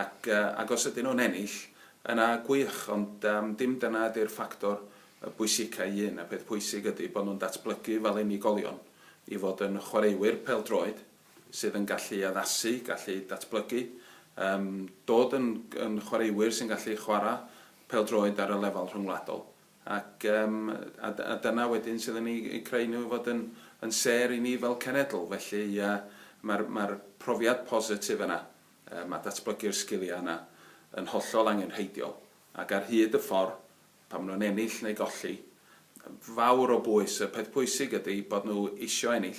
Ac, ac os ydyn nhw'n ennill, yna gwych, ond yym dim dyna ydi'r ffactor y bwysica i un. Y peth pwysig ydi bod nhw'n datblygu fel unigolion i fod yn chwaraewyr pêl-droed sydd yn gallu addasu, gallu datblygu, yym dod yn yn chwaraewyr sy'n gallu chwarae pêl-droed ar y lefel rhyngwladol. Ac yym a d- a dyna wedyn sydd yn eu eu creu nhw i fod yn yn sêr i ni fel cenedl. Felly yy ma'r ma'r profiad positif yna. Mae datblygu'r sgiliau yna yn hollol angenrheidiol ac ar hyd y ffordd, pan maen nhw'n ennill neu golli, fawr o bwys. Y peth pwysig ydy bod nhw isio ennill,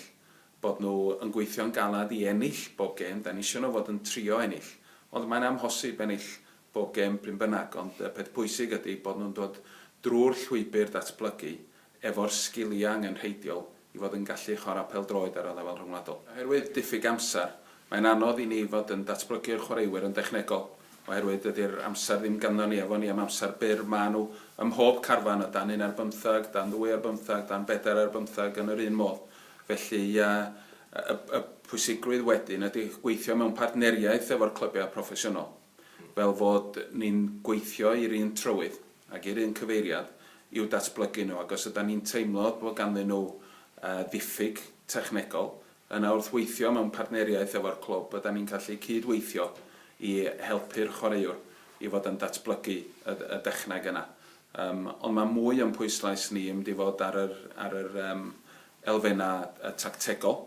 bod nhw yn gweithio'n galed i ennill bob gêm, dan ni isio nhw fod yn trio ennill, ond mae'n amhosib ennill bob gêm pryn bynnag, ond y peth pwysig ydy bod nhw'n dod drwy'r llwybr datblygu efo'r sgiliau angenrheidiol i fod yn gallu chwarae pêl-droed ar y lefel rhyngwladol. Oherwydd diffyg amser, mae'n anodd i ni fod yn datblygu'r chwaraewyr yn dechnegol, oherwydd dydy'r amser ddim ganddo ni, efo ni am amser byr, maen nhw ym mhob carfan, o dan un ar bymtheg, dan ddwy ar bymtheg, dan bedair ar bymtheg, yn yr un modd. Felly, ia, y y pwysigrwydd wedyn ydy gweithio mewn partneriaeth efo'r clybiau proffesiynol. fel fod ni'n gweithio i'r un trywydd ac i'r un cyfeiriad i'w datblygu nhw, ac os ydan ni'n teimlo bod ganddyn nhw ddiffyg technegol, yna wrth weithio mewn partneriaeth efo'r clwb ydan ni'n gallu cyd-weithio i helpu'r chwaraewr i fod yn datblygu y dechneg yna. Yym, ond mae mwy o'n pwyslais ni yn mynd i fod ar yr ar yr yym elfennau tactegol.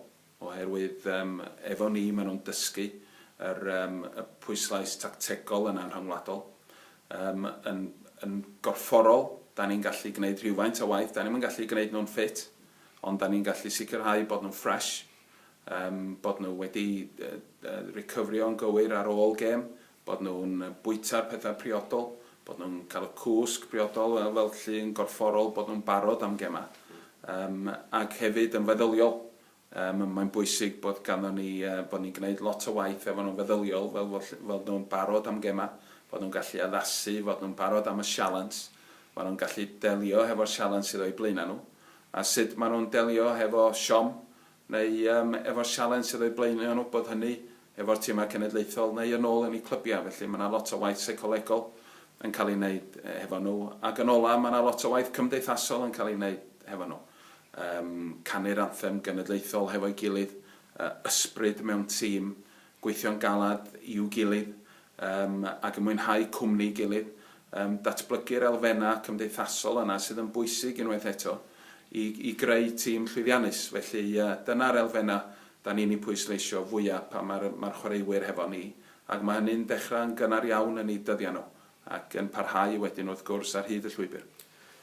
Oherwydd yym efo ni ma' nhw'n dysgu yr yym y pwyslais tactegol yna'n rhyngwladol. Yym yn yn gorfforol 'dan ni'n gallu gneud rhywfaint o waith, 'dan ni'm yn gallu gneud nhw'n ffit, ond 'dan ni'n gallu sicrhau bod nhw'n ffresh, yym bod nhw wedi yy yy ricyfrio'n gywir ar ôl gêm, bod nhw'n bwyta'r pethau priodol, bod nhw'n cael y cwsg priodol fel fel llu yn gorfforol, bod nhw'n barod am gemau. Yym ac hefyd yn feddyliol. Yym mae'n bwysig bod ganddo ni yy bod ni'n gwneud lot o waith efo nhw'n feddyliol fel fod ll- fod nhw'n barod am gemau, fod nhw'n gallu addasu, fod nhw'n barod am y sialens, fod nhw'n gallu delio hefo'r sialens sydd o'u blaenau nhw, a sut maen nhw'n delio hefo siom neu yym efo'r sialens sydd o'i blaen nhw yn wybod hynny, efo'r timau cenedlaethol, neu yn ôl yn eu clybiau. Felly, mae yna lot o waith seicolegol yn cael ei wneud hefo nhw. Ac yn ola, mae yna lot o waith cymdeithasol yn cael ei wneud hefo nhw. Yym, canu'r anthem genedlaethol hefo'i gilydd, yy ysbryd mewn tîm, gweithio'n galed i'w gilydd, Yym, ac yn mwynhau cwmni'i gilydd. Yym, datblygu'r elfennau cymdeithasol yna sydd yn bwysig, unwaith eto, i i greu tîm llwyddiannus. Felly, yy, dyna'r elfennau 'dan ni'n eu pwysleisio fwya' pan mae'r mae'r chwaraewyr hefo ni, ac mae hynny'n dechrau yn gynnar iawn yn eu dyddiau nhw, ac yn parhau wedyn, wrth gwrs, ar hyd y llwybr.